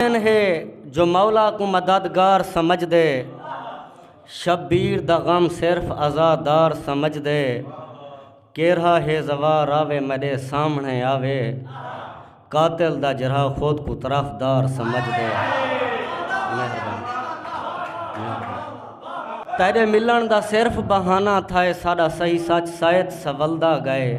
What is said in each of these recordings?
مومن ہے جو مولا کو مددگار سمجھ دے شبیر دا غم صرف عزادار سمجھ دے کیرہا ہے زوار آوے مڈے سامنے آوے قاتل دا جرہا خود کو طرفدار سمجھ دے تیرے ملن دا صرف بہانہ تھائے ساڈا صحیح سچ سائت سولدا گئے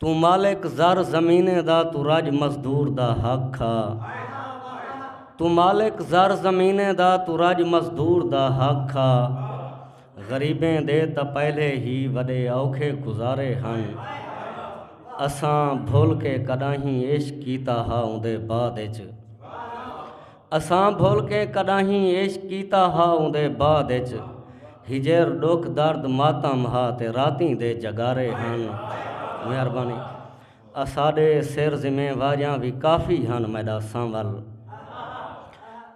توں مالک زر زمینیں دا توں رج مزدور دا حق کھا توں مالک زر زمینیں دا توں رج مزدور دا حق کھا غریبیں دے تاں پہلے ہی وڈے اوکھے گزارے ہن اساں بھل کے کڈاہیں عشق کیتا ہا اوندے بعد اچ اساں بھل کے کݙاہیں عشق کیتا ہا اوندے بعد اچ ہجر ݙکھ درد ماتم ہا تے راتیں دے جگارے ہن مہربانی اساݙے سر ذمہ واریاں وی کافی ہن میݙا سنول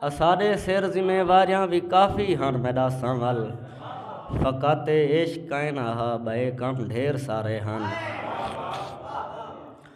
اساݙے سر ذمہ واریاں وی کافی ہن میݙا سنول فقط اے عشق کائنا ہا ٻئے کم ڈھیر سارے ہن۔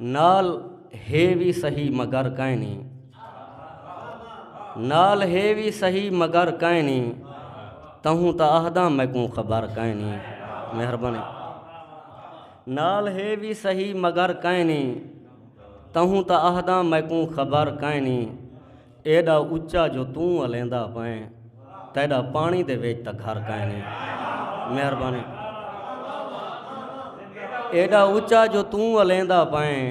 نال ہے وی سہی مگر کائنی نال ہے وی سہی مگر کائنی تہوں تاں آہداں میکوں خبر کائنی مہربانی نال ہے وی سہی مگر کائنی تہوں تاں آہداں میکوں خبر کائنی ایڈا اچا جو توں الیندا پئیں تیڈا پانی دے وچ تاں گھر کائنی مہربانی ایڈا اچا جو توں الیندا پئیں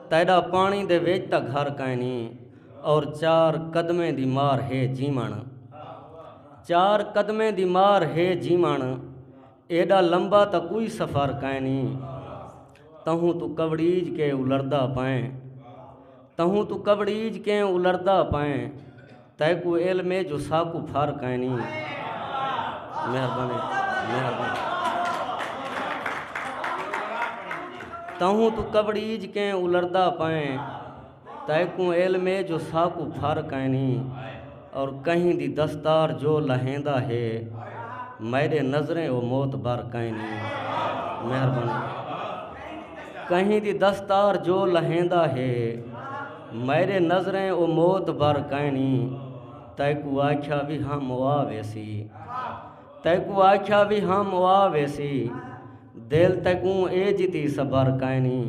تیڈا پانی دے وچ تاں گھر کائنی اور چار قدمیں دی مار ہے جیون چار قدمیں دی مار ہے جیون ایڈا لمبا تاں کوئی سفر کائنی تہوں توں کبڑیج کے الردا پائیں تہوں توں کبڑیج کے الردا پائیں تیکو علم ہے جو ساکو پھر کائنی مہربانی مہربانی تہوں توں کبڑیج کے الردا پائیں تیکوں علم اے جو ساکوں پھر کائنی اور کہیں دی دستار جو لہیندا ہے میڈے نظریں او معتبر کائنی مہربانی کہیں دی دستار جو لہیندا ہے میڈے نظریں او معتبر کائنی تیکوں آکھیا وی ہم او آ ویسی تیکوں آکھیا وی ہم او آ ویسی دل تیکوں اے جتی صبر کائنی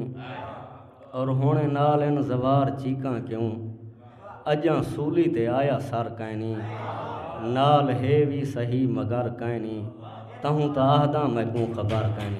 اور ہن نال ان زوار چیکاں کیوں اجاں سولی تے آیا سر کائنی نال ہے وی سہی مگر کائنی تہوں تاں آہداں میکوں خبر کائنی۔